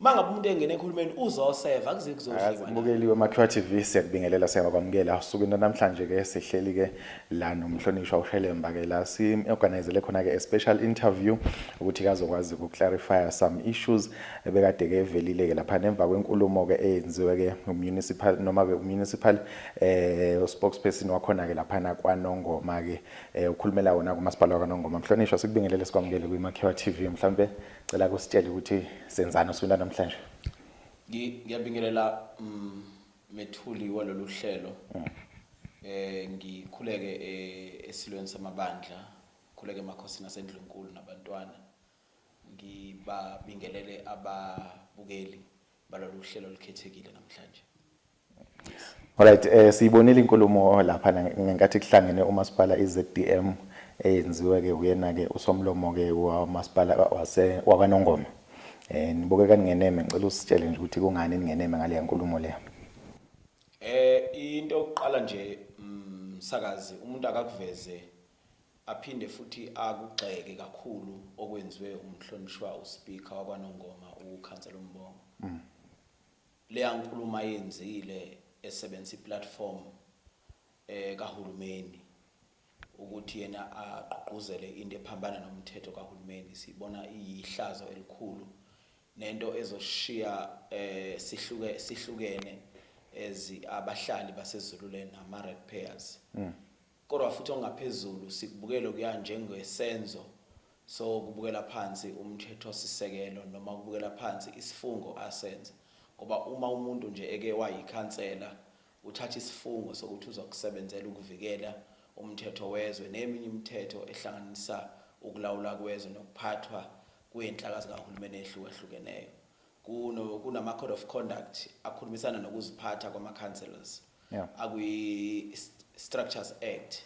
uma ngabe umuntu engena ekhulumeni uzoseva kuze kuzodliwa bukeliwe makhiwa tv siyakubingelela siyakwamukela osukwini namhlanje ke sihleli ke la nomhlonishwa ushelemba ke la si-organizele khona-ke a-special interview ukuthi kazokwazi ukuclarifya some issues ebekade ke evelile-ke lapha nemva kwenkulumo-ke eyenziwe ke umunicipal noma-ke umunicipal eh uspokesperson wakhona-ke laphana kwanongoma-ke um ukhulumela wona kumasipala wakwanongoma mhlonishwa sikubingelele sikwamukele kwimakhiwa tv mhlawumbe Cela kusitshele ukuthi senzani usuku namhlanje. Ngiyabingelela mm, methuli walolu hlelo. Mm. Eh ngikhuleke eh, esilweni samabandla, khuleke emakhosini asendlunkulu nabantwana. Ngibabingelele ababukeli balolu hlelo olukhethekile namhlanje. Alright eh siyibonile inkulumo lapha ngenkathi kuhlangene umasipala iZDM eyenziwe ke uyena ke usomlomo ke wamasipala wase wakwaNongoma eh nibukeka ningeneme ngicela usitshele nje ukuthi kungani ningeneme ngale yankulumo le eh into yokuqala nje msakazi mm, umuntu akakuveze aphinde futhi akugxeke kakhulu okwenziwe umhlonishwa uspeaker wakwaNongoma ukhansela uMbongo mm. Leya nkulumo ayenzile esebenzisa iplatform eh kahulumeni ukuthi yena agqugquzele into ephambana nomthetho kahulumeni sibona iyihlazo elikhulu nento ezoshiya eh sihluke sihlukene as abahlali baseZululand ama red pairs mm. Kodwa futhi ongaphezulu sikubukele kuya njengesenzo sokubukela phansi umthethosisekelo noma ukubukela phansi isifungo asenza ngoba uma umuntu nje eke wayikhansela uthatha isifungo sokuthi uzokusebenzela ukuvikela umthetho wezwe neminye imithetho ehlanganisa ukulawula kwezwe nokuphathwa kwenhlaka zikahulumeni ehlukahlukeneyo Kuno kunama code of conduct akhulumisana nokuziphatha kwama councillors. Yeah. Akwi Structures Act.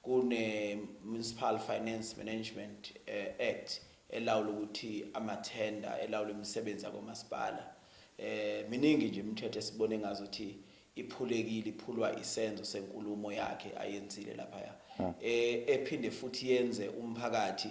Kune Municipal Finance Management eh, Act elawula ukuthi ama tender elawula imisebenzi yakomasipala. Eh miningi nje imithetho esibone ngazo ukuthi iphulekile iphulwa isenzo senkulumo yakhe ayenzile laphaya e, ephinde futhi yenze umphakathi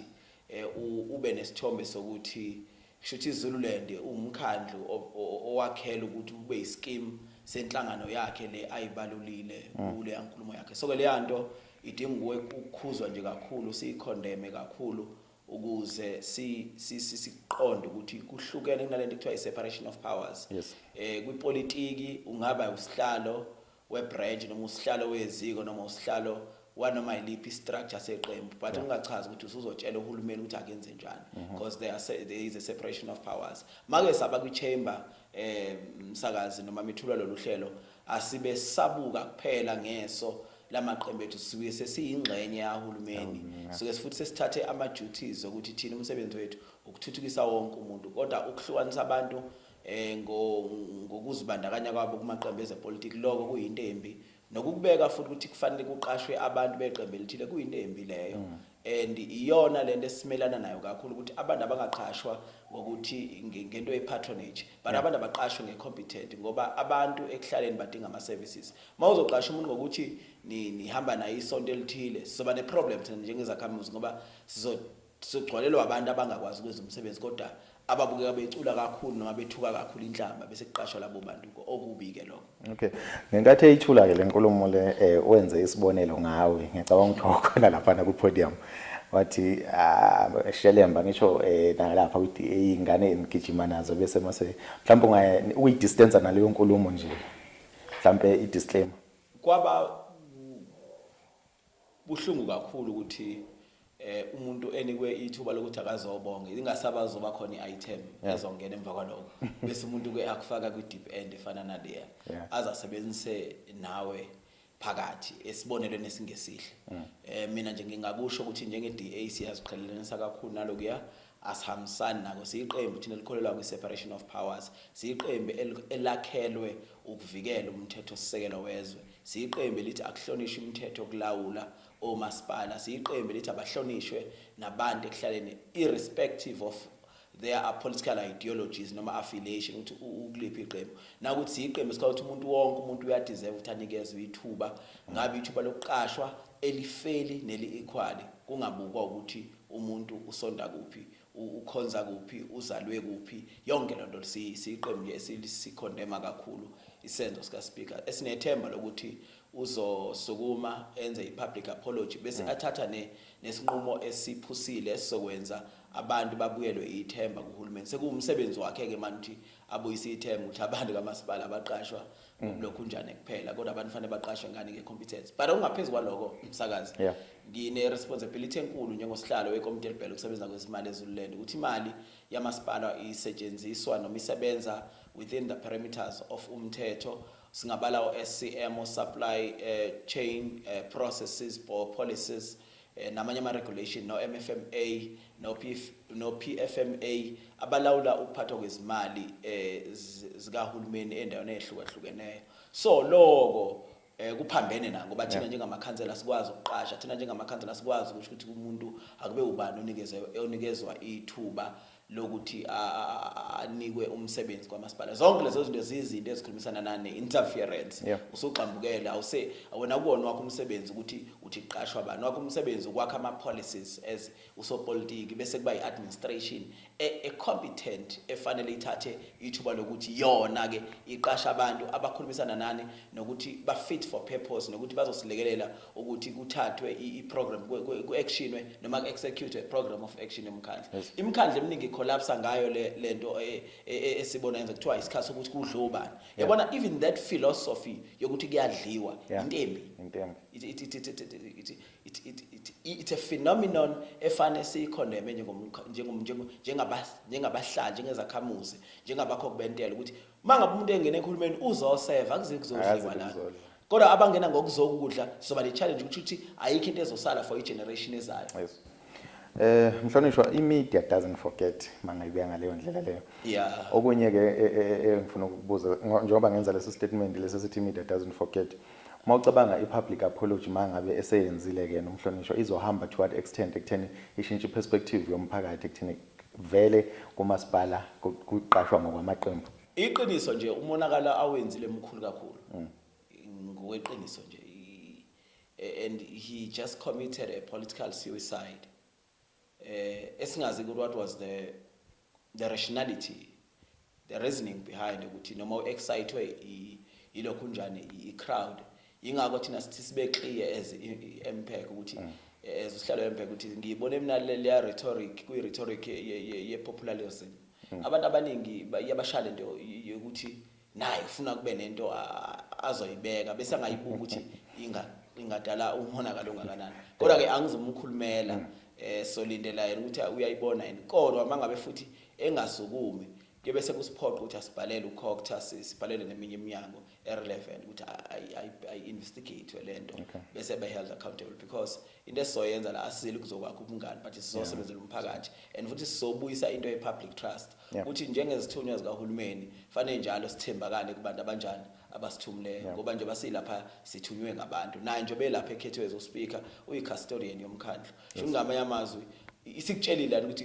e, u- ube nesithombe sokuthi kushuthi iZululand ungumkhandlu o- o- owakhela ukuthi ube isikimu senhlangano yakhe le ayibalulile kuleya nkulumo yakhe so ke leya nto idinga ukuwe- ukukhuzwa nje kakhulu siyikhondeme kakhulu ukuze siqonde ukuthi kuhlukene kunalento ekuthiwa i-separation of powers yes. eh kwipolitiki ungaba usihlalo we-branch noma usihlalo weziko noma usihlalo wanoma yiliphi structure seqembu but ungachazi ukuthi usuzotshela uhulumeni ukuthi akenze njani mhm. because there, are, there is a separation of powers make saba kwi-chamber eh msakazi noma mithula lolu hlelo asibe sabuka kuphela ngeso lamaqembu ethu sisuke sesiyingxenye yahulumeni suke futhi sesithathe ama duties ukuthi thina umsebenzi wethu ukuthuthukisa wonke umuntu kodwa ukuhlukanisa abantu eh ngokuzibandakanya kwabo kumaqembu ezepolitiki lokho kuyinto embi nokubeka futhi ukuthi kufanele kuqashwe abantu beqembu elithile kuyinto embi leyo mm. and iyona lento esimelana nayo kakhulu ukuthi abantu abangaqashwa ngokuthi ngento ye-patronage but yeah. abantu abaqashwe nge-competent ngoba abantu ekuhlaleni badinga ama-services uma uzoqasha umuntu ngokuthi nihamba ni naye isonto elithile sizoba ne-problem thina njengezakhamuzi ngoba sizogcwalelwa abantu abangakwazi ukwenza umsebenzi kodwa ababukeka becula kakhulu noma bethuka kakhulu inhlamba bese kuqashwa labo bantu okubi ke lokho okay ngenkathi eyithula ke lenkulumo le eh, wenze isibonelo ngawe ngicabanga ukuthi wakhona lapha na ku podium wathi ah, shelemba ngisho eh, nalapha ukuthi ingane engigijima nazo bese mase mhlawumbe ungaye uyi distance naleyo nkulumo nje mhlawumbe i disclaimer kwaba Kubuhlungu kakhulu ukuthi eh umuntu enikwe ithuba lokuthi akazobonga ingasaba zoba khona iitem yeah. ezongena emva kwaloko bese umuntu ke akufaka kwi deep end efana naleya yeah. azasebenzise nawe phakathi esibonelweni esingesihle mm. eh mina nje ngingakusho ukuthi njenge DA siyaziqhelelanisa kakhulu nalokuya Asihambisani nako, siyiqembu thina elikholelwa kwi-separation of powers, siyiqembu elakhelwe ukuvikela umthethosisekelo wezwe, siyiqembu elithi akuhlonishwe imithetho yokulawula omasipala, siyiqembu elithi abahlonishwe nabantu ekuhlaleni irrespective of there are political ideologies noma affiliation ukuthi ukuliphi iqembu nakuthi siyiqembu sikhala ukuthi umuntu wonke umuntu uyadeserve ukuthi anikezwe ithuba ngabe ithuba lokuqashwa elifeli neli-equally kungabukwa ukuthi umuntu usonta kuphi ukhonza kuphi uzalwe kuphi yonke lento siyiqembu nje esikhondema kakhulu isenzo sika speaker esinethemba lokuthi uzosukuma enze ipublic apology bese mm. athatha ne nesinqumo esiphusile esizokwenza abantu babuyelwe ithemba kuhulumeni sekuwumsebenzi wakhe ke manje abuyise ithemba ukuthi abantu kamasipala abaqashwa lokhu njani kuphela kodwa abantu fanele baqashe ngani nge-competence but okungaphezu kwaloko msakazi yeah. ngine-responsibility enkulu njengosihlalo wekomiti elibhele ukusebenza kwezimali ezululand ukuthi imali yamasipala isetshenziswa noma isebenza within the parameters of umthetho singabala o-scm o-supply uh, chain uh, processes or policies eh, namanye ama-regulation no-MFMA no-PF, no-PFMA abalawula ukuphathwa kwezimali eh, zikahulumeni endaweni eyehlukahlukeneyo so loko eh kuphambene na ngoba thina njengamakhansela sikwazi ukuqasha thina njengamakhansela sikwazi ukuthi ukuthi umuntu akube ubani onikezwe onikezwa ithuba lokuthi anikwe umsebenzi kwamasipala zonke lezo zinto ziyizinto ezikhulumisana nane interference yeah. usugxambukele awuse awena kuwona wakho umsebenzi ukuthi uthi qashwa bani wakho umsebenzi ukwakha ama policies as usopolitiki bese kuba iadministration e, e competent efanele ithathe ithuba lokuthi yona ke iqasha abantu abakhulumisana nani nokuthi ba fit for purpose nokuthi bazosilekelela ukuthi kuthathwe i-program ku-actionwe noma ku-executwe program of action yomkhandla imikhandla eminingi collapse ngayo le nto e, e, e, esibona yenza kuthiwa isikhathi sokuthi kudle ubani yabona even that philosophy yokuthi kuyadliwa intembi it's a phenomenon efane siyikhondeme njengabahlali njengezakhamuzi njengabakho kubentela ukuthi uma ngabe umuntu engena ekhulumeni uzoseva kuzekuzodliwa la kodwa abangena ngokuzokudla sizoba ne-challenge ukuthi ukuthi ayikho into ezosala for i-generation ezayo yes. Eh mhlonishwa imedia doesn't forget mangayibuya ngaleyo ndlela leyo. Yeah. Okunye ke e, e, e, engifuna ukubuza njengoba ngenza lesi statement lesi sithi media doesn't forget. Uma ucabanga i-public apology mangabe eseyenzile ke nomhlonishwa izohamba to what extent ekutheni ishintshe perspective yomphakathi ekutheni vele kumasipala kuqashwa ngokwamaqembu. Iqiniso nje umonakalo awenzile mkhulu kakhulu. Mm. Ngokweqiniso nje and he just committed a political suicide. Eh esingazi ukuthi what was the the rationality the reasoning behind ukuthi noma uexcitwe ilokhu njani i crowd yingakho thina sithi sibe clear as MPEC ukuthi mm. as usihlalo MPEC ukuthi ngiyibona mina leya rhetoric kuyi rhetoric ye popularism mm. abantu abaningi iyabashaya lento yokuthi naye ufuna kube nento azoyibeka bese angayibuka ukuthi inga ingadala umonakalo ongakanani kodwa ke angizomkhulumela mm. eh solindela yena ukuthi uyayibona yini kodwa mangabe futhi engasukumi kube sekusiphoqa ukuthi asibhalele ukhokutha sibhalele neminye iminyango erelevant ukuthi ayi-investigatwe le nto okay. bese be-held accountable because into esizoyenza la asizile ukuzokwakha ubungani but sizosebenzela umphakathi and futhi sizobuyisa into ye-public trust ukuthi yeah. njengezithunywa zikahulumeni fanele njalo sithembakale kubantu abanjani abasithumleyo yeah. ngoba nje basilapha sithunywe ngabantu naye nje belapha ekhethwe ezospika uyi-custodian yomkhandlu sho yeah. ngamanye amazwi isikutshelile ukuthi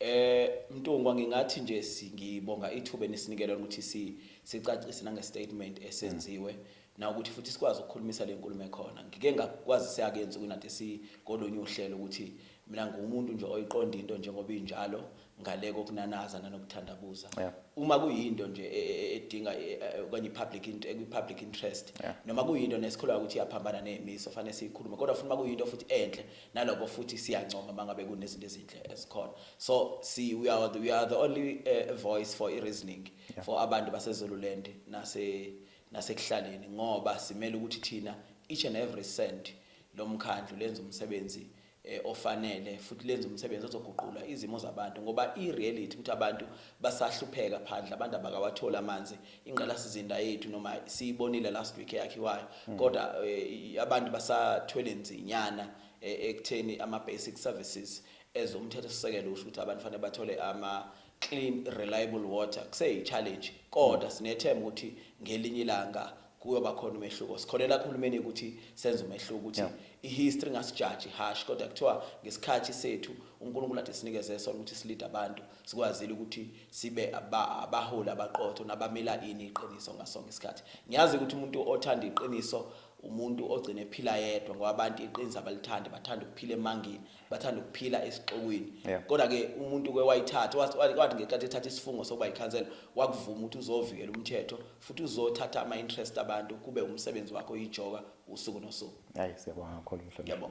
Eh Mntungwa ngingathi nje ngibonga ithuba enisinikele lona ukuthi si sicacise nange statement esenziwe na ukuthi futhi sikwazi ukukhulumisa lenkulumo ekhona ngike ngakwazi siyakenza kunade si kolunye uhlelo ukuthi mina ngumuntu nje oyiqonda into njengoba injalo ngale kokunanaza nanokuthandabuza yeah. uma kuyinto nje e, e, e, edinga okanye ipublic ekwi public interest yeah. noma kuyinto nesikholwa ukuthi iyaphambana nezimiso fanele siyikhulume kodwa futhi uma kuyinto futhi enhle naloko futhi siyancoma mangabe kunezinto ezinhle ezikhona so si we are the, we are the only uh, voice for i-reasoning yeah. for abantu basezululand nase nasekuhlaleni ngoba simele ukuthi thina each and every cent lomkhandlu lenza umsebenzi eh, ofanele futhi lenza umsebenzi ozoguqula izimo zabantu ngoba i-reality ukuthi abantu basahlupheka phandle abantu abakawatholi amanzi ingqalasizinda yethu noma siyibonile last week eyakhiwayo hmm. kodwa eh, abantu basathwele nzinyana eh, ekutheni ama basic services ezomthetho sisekelo usho ukuthi abantu fanele bathole ama clean reliable water kuseyi challenge kodwa sinethemba ukuthi ngelinye ilanga kuyoba khona umehluko sikholela kuhulumeni ukuthi senze umehluko ukuthi ihistory ngasijaji hash kodwa kuthiwa ngesikhathi sethu uNkulunkulu athi sinikeze sona ukuthi silide abantu sikwazile ukuthi sibe abaholi abaqotho nabamela ini iqiniso ngasonke isikhathi ngiyazi ukuthi umuntu othanda iqiniso umuntu ogcine ephila yedwa ngoba abantu iqiniso abalithandi bathanda ukuphila emangini bathanda ukuphila esixokwini kodwa ke umuntu ke wayithatha wathi ngesikhathi ethatha isifungo sokuba yikhansela wakuvuma ukuthi uzovikela umthetho futhi uzothatha ama interest abantu kube umsebenzi wakho yijoka usuku nosuku hayi siyabonga kakhulu mhlonishwa